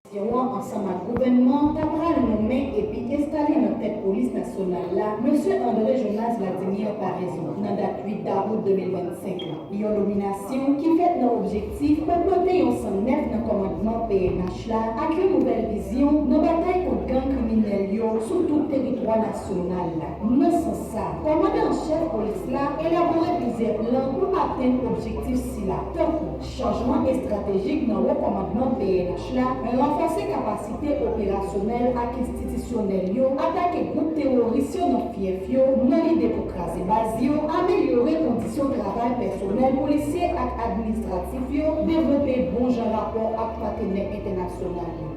Nasyon an ansanm ak gouvènman an ta pral nonmen epi enstale nan tèt polis nasyonal la Mesye André Jonas Vladimir Paraison nan dat 8 dawout 2025 la. Yon nominasyon ki fèt nan objektif pou pote yon san nèf nan kòmandman pnh la ak yon nouvèl vizyon nan batay kont gang kriminèl yo sou tout teritwa nasyonal la. Nan sans sa, kòmandan an chèf polis la elabore plizyè plan pou atenn objektif sila, tankou. Chanjman estratejik nan wo kòmandman pnh la, ranfòse kapasite operasyonèl ak enstitisyonèl yo, atake gwoup teworis yo nan fyèf yo nan lide pou kraze baz yo, amelyore kondisyon travay pèsonèl polisye ak administratif yo, devlope bon jan rapò ak patenè entènasyonal yo.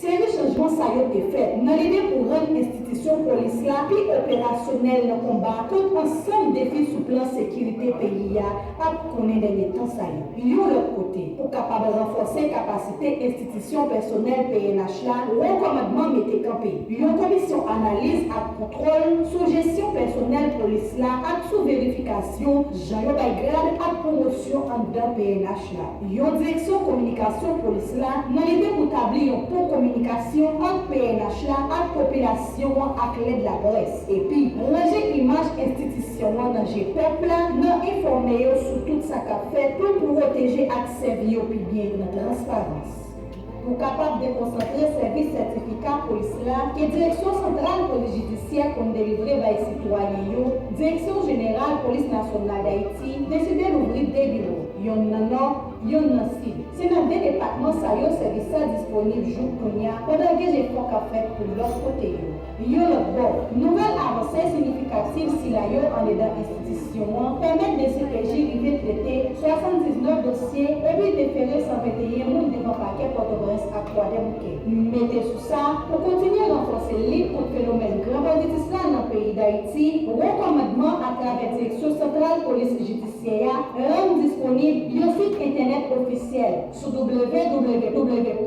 Seri chanjman sa yo te fèt nan lide pou rann enstitisyon polis la pi operasyonèl nan konba kont ansanm defi sou plan sekirite peyi a ap konnen dènye tan sa yo. Yon lòt kote, pou kapab ranfòse kapasite enstitisyon pèsonèl pnh la, Wo Kòmandman mete kanpe yon komisyon analiz ak kontwòl sou jesyon pèsonèl polis la ak sou verifikasyon jan yo bay grad ak pwomosyon anndan pnh la. yon direksyon kominikasyon polis la nan lide pou tabli yon pon kominikasyon ant pnh la ak popilasyon an ak lèd laprès, epi ranje imaj enstitisyon an nan je pèp la nan enfòme yo sou tout sa k ap fèt pou pwoteje ak sèvi yo pi byen nan transparans. Pou kapab dekonsantre sèvis sètifika polis la ke Direksyon santral polis jidisyè konn delivre bay sitwayen yo, Direksyon jeneral polis nasyonal Dayiti deside louvri 2 biwo, yonn nan Nò, yonn nan Sid. Se nan 2 depatman sa yo sèvis sa disponib jouk kounya pandan gen jefò k ap fèt pou lòt kote yo. Yon lòt bò, nouvèl avanse siyifikativ sila yo andedan enstitisyon an pèmèt dcpj rive trete 79 dosye epi defere 121 moun devan pakè Pòtoprens ak Kwadèboukè. Mete sou sa, pou kontinye ranfòse lit kont fenomèn gran banditis la nan peyi Dayiti, Wo Kòmandman atravè Direksyon Santral Polis Jidisyè a rann disponib yon sit entènèt ofisyèl, Sou www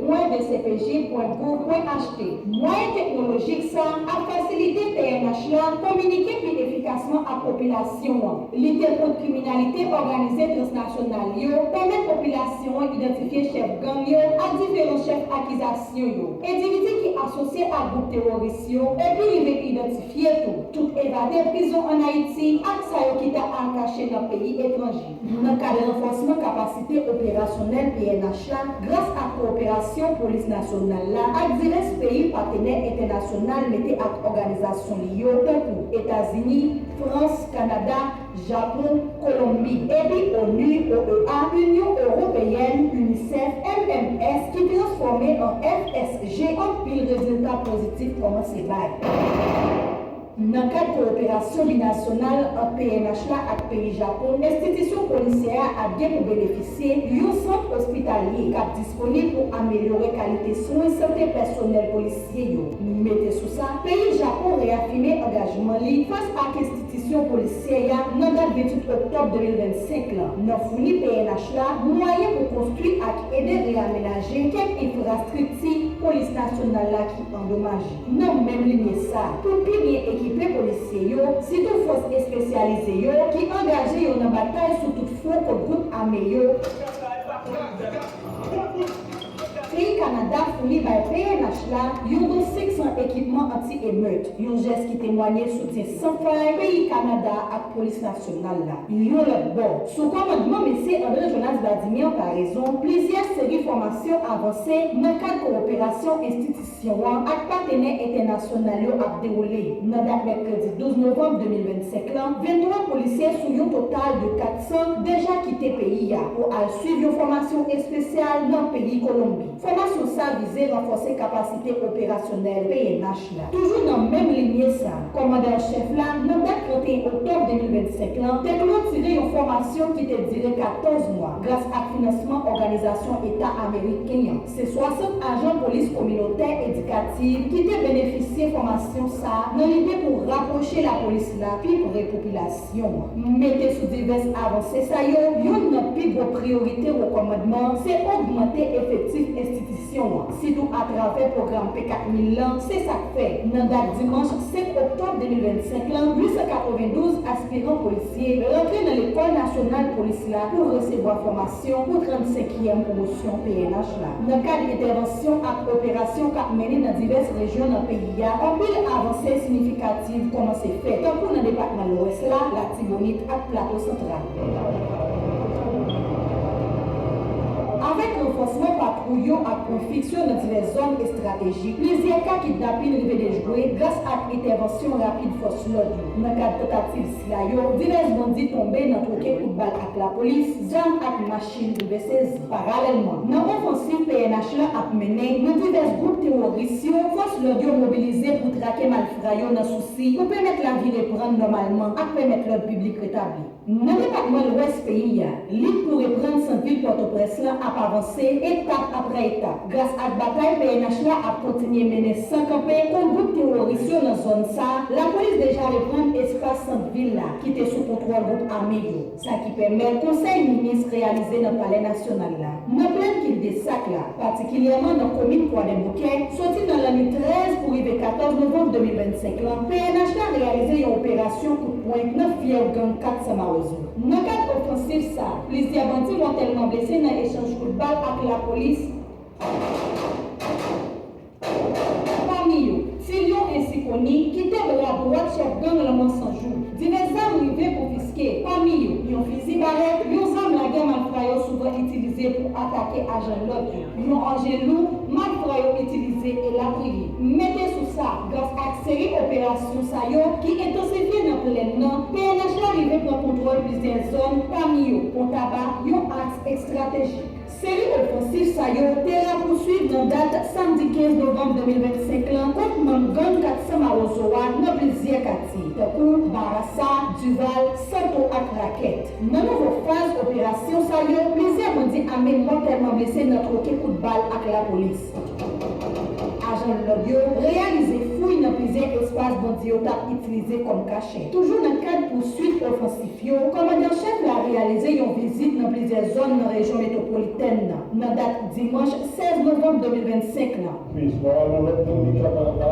pwen dcpj pwen gouv pwen HT, mwayen teknolojik sa ap fasilite pnh la kominike pi efikasman ak popilasyon an, lite kont kriminalite òganize transnasyonal yo, pèmèt popilasyon an idantifye chèf gang yo ak diferan chèf akizasyon yo, endividi ki asosye ak gwoup teworis yo, epi rive idantifye tou, tout evade prizon an Ayiti ak sa yo ki ta al kache nan peyi etranje. Nan kad ranfòsman kapasite operasyonèl pnh la gras ak kowoperasyon polis nasyonal la ak divès peyi patenè entènasyonal mete ak òganizasyon li yo tankou, Etazini, Frans, Kanada, Japon, Kolonbi, epi onu, OEA, Inyon Ewopeyèn, UNICEF, MMS ki transfòme an FSG anpil rezilta pozitif kòmanse bay. Nan kad kowoperasyon binasyonal ant pnh la ak peyi Japon, enstitisyon polisyè a ap gen pou benefisye yon sant ospitalye k ap disponib pou amelyore kalite swen sante pèsonèl polisye yo. Mete sou sa, peyi Japon reyafime angajman li fas ak enstitisyon polisyè a nan dat 28 oktòb 2025 lan, nan founi pnh la mwayen pou konstwi ak ede reyamenaje kèk enfrastrikti polis nasyonal la ki andomaje. Nan menm linye sa, pou pi byen ekipe polisye yo, sitou fòs espesyalize yo, ki angaje yo nan batay sou tout fwon kont gwoup ame yo, peyi Kanada founi bay pnh la yon don 500 ekipman anti-emeut, yon jès ki temwanye soutyen san fay peyi Kanada ak Polis Nasyonal la. Yon lòt bò, sou kòmandman Mesye André Jonas Vladimir Paraison, plizyè seri fòmasyon avanse nan kad kowoperasyon enstitisyon. Eleksyon an ak patenè entènasyonal yo ap dewoule nan dat mèkredi 12 novanm 2025 lan, 23 polisye sou yon total de 400 deja kite peyi a pou al swiv yon fòmasyon espesyal nan peyi Kolonbi. Fòmasyon sa vize ranfòse kapasite operasyonèl pnh la. Toujou nan menm linye sa, kòmandan an chèf la, nan dat 31 oktòb 2025 lan, te klotire yon fòmasyon ki te dire 14 mwa, gras ak finansman Òganizasyon Eta Ameriken an. Se 60 ajan polis kominotè edikativ ki te benefisye fòmasyon sa nan lide pou rapwoche lapolis la pi pre popilasyon an. Mete sou divès avanse sa yo, youn nan pi gwo priyorite Wo Kòmandman se ogmante efektif enstitisyon an, sitou atravè pwogram P 4000 lan, se sa k fè, nan dat dimanch 5 oktòb 2025 lan, 892 aspiran polisye rantre nan Lekòl Nasyonal Polis la pou resevwa fòmasyon. Se yon kou 35 yèm pwomosyon pnh la nan kad entèvansyon ak operasyon kap mennen nan divès rejyon nan peyi a, anpil avanse sinifikativ kòmanse fèt, tankou nan depatman Lwès la, Latibonit ak Plato Santral. Avèk ranfòsman patwouy yo ak pwen fiks yo nan divès zòn estratejik, plizyè ka kidnapin rive dejwe gras ak entèvansyon rapid fòs lòd yo nan kad tantativ. La yo, divès bandi tonbe nan twoke kout bal ak lapolis, zam ak machin rive sezi. Paralèlman, nan ofansiv pnh la ap mennen nan divès gwoup teworis yo, fòs lòd yo mobilize pou trake malfra yo nan sousi pou pèmèt lavi reprann nòmalman ak pèmèt lòd piblik retabli. Nan depatman Lwès peyi a, lit pou reprann sant vil Pòtoprens lan ap avanse etap aprè etap. Gras ak batay pnh la ap kontinye mennen san kanpe kont gwoup teworis yo nan zòn sa, lapolis deja reprann espas sant vil la ki te sou kontwòl gwoup ame yo, sa ki pèmèt konsèy minis reyalize nan palè nasyonal la, nan plèn kildesak la, patikilyèman nan komin Kwadèboukè, soti nan lannwit 13 pou rive 14 novanm 2025 lan, pnh la reyalize yon operasyon kout pwen nan fyèv gang 400 mawozo. Nan kad ofansif sa, plizyè bandi mòtèlman blese nan echanj kout bal ak lapolis, pami yo, Ti Lyon ensi koni, ki te bra dwat chèf gang Lanmò 100 jou. Divès zam rive konfiske, pami yo, yon fizi barèt, yon zam lagè malfra yo souvan itilize pou atake ajan lòd yo. yon angelou, mak fra yo itilize, elatriye. Mete sou sa, gras ak seri operasyon sa yo ki entansifye nan plèn nan, pnh la rive pran kontwòl plizyè zòn, pami yo, Pon Taba, yon aks ekstratejik. Seri ofansif sa yo te rapousuiv nan dat samdi 15 novanm 2025 lan kont manm gang 400 Mawozo a nan plizyè katye, tankou Barasa, Duval, Santo ak Rakèt. Nan nouvo faz operasyon sa yo, plizyè bandi ame mòtèlman blese nan twoke kout bal ak lapolis. Ajan lòd yo reyalize fouy nan plizyè espas bandi yo t ap itilize kòm kachè. Toujou nan kad pouswit ofansif yo, kòmandan chèf la reyalize yon vizit nan plizyè zòn nan rejyon metwopolitèn nan, nan dat dimanch 16 novanm 2025 lan. Plis, Mama Lolo ap tann li kap anba.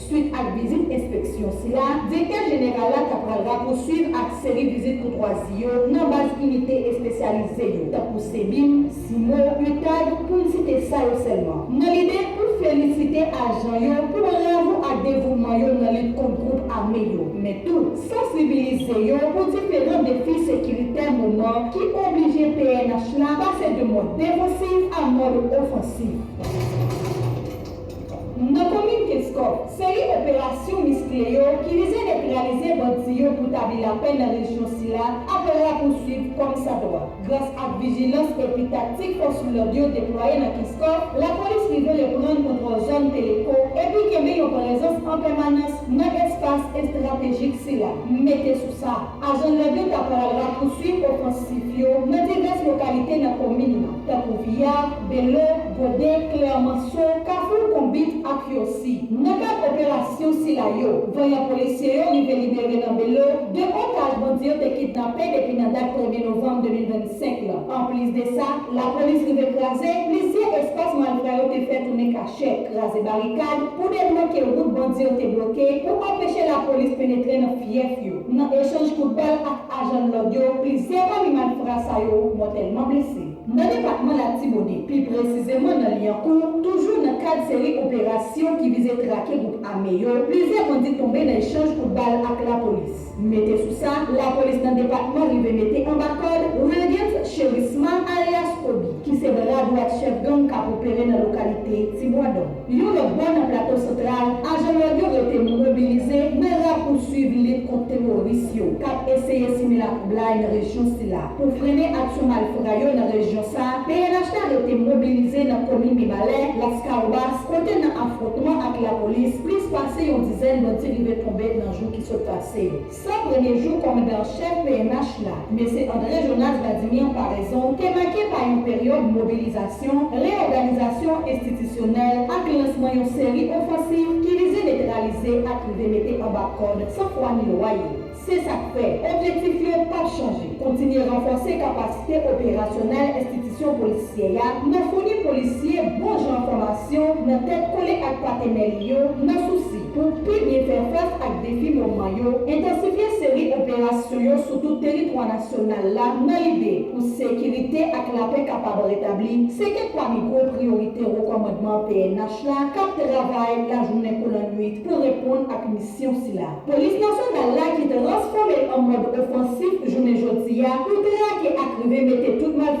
Swit ak vizit enspeksyon sila, Direktè Jeneral la ta pral rapousuiv ak seri vizit koutwazi yo nan baz inite espesyalize yo, tankou CBIM, CIMO, UTAG, pou n site sa yo sèlman, nan lide pou felisite ajan yo pou bravo ak devouman yo nan lit kont gwoup ame yo, men tou sansibilize yo pou diferan defi sekiritè moman ki oblije pnh la pase de mòd defansif a mòd ofansif. Nan komin Kenskòf, seri operasyon miskle yo ki vize netralize bandi yo pou tabli lapè nan rejyon sila ap rapousuiv kòm sa dwa. Gras ak vijilans epi taktik fòs lòd yo deplwaye nan Kenskòf, lapolis rive reprann kontwòl zòn Teleko epi kenbe yon prezans an pèmanans nan espas estratejik sila. Mete sou sa, ajan lòd yo ta pral rapousuiv ofansif yo nan divès lokalite nan komin nan. tankou Viya, Belo, Goden, Klèmanso, Kafou, Konbit ak Yosi. Nan kad operasyon sila yo, vanyan polisye yo rive libere nan Belo 2 otaj bandi yo te kidnape depi nan dat premye novanm 2025 la. Anplis de sa, lapolis rive kraze plizyè espas malfra yo te fè tounen kachè, kraze barikad pou debloke wout bandi yo te bloke pou anpeche lapolis penetre nan fyèf yo, nan echanj kout bal ak. Ajan lòd yo plis. Se anba mi malfra sa yo mwen tèlman blese. Nan depatman Latibonit, pi presizeman nan Lyankou, toujou nan kad seri operasyon ki vize trake gwoup ame yo, plizyè bandi tonbe nan echanj kout bal ak lapolis. Mete sou sa, lapolis nan depatman rive mete anba kòd Wilgens Cherisma alyas Kobi, ki se bra dwat chèf gang k ap opere nan lokalite Tibwadon. Yon lòt bò nan Plato Santral, ajan lòd yo rete mobilize nan rapouswiv lit kont teworis yo k ap eseye simen latwoublay nan rejyon sila. Pou frennen aksyon malfra yo nan rejyon sa, pnh la rete mobilize nan komin Mibalè, Laskawobas, kote nan afwontman ak lapolis, plis pase yon dizèn bandi rive tonbe nan jou ki sot pase yo. San premye jou kòmandan an chèf pnh la, Mesye André Jonas Vladimir Paraison, te make pa yon peryòd mobilizasyon, reyòganizasyon enstitisyonèl ak lansman yon seri ofansiv ki vize netralize ak rive mete anba kòd san fwa ni lwa yo. Se sa k fè, objektif yo p ap chanje, kontinye ranfòse kapasite operasyonèl enstitisyon polisyè a nan founi polisye bon jan fòmasyon nan tèt kole ak patenè li yo nan sousi Pou pi byen fè fas ak defi moman yo, entansifye seri operasyon yo sou tout teritwa nasyonal la nan lide pou sekirite ak lapè kapab retabli, se kèk pami gwo priyorite wo kòmandman pnh la k ap travay lajounen kou lannuit pou reponn ak misyon sila. Polis nasyonal la ki transfòme l an mòd ofansif jounen jodi a pou trake ak rive mete tout malfè.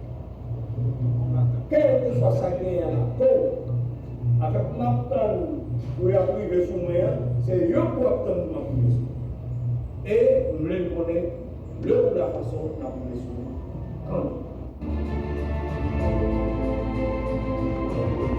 Kelkeswa sa genyen a laptò w avèk map tann pou yap rive sou mwen an se yo pou ap tann pou map rive sou mwen e m vle n konnen lè ou la fason map rive sou ou kòmn.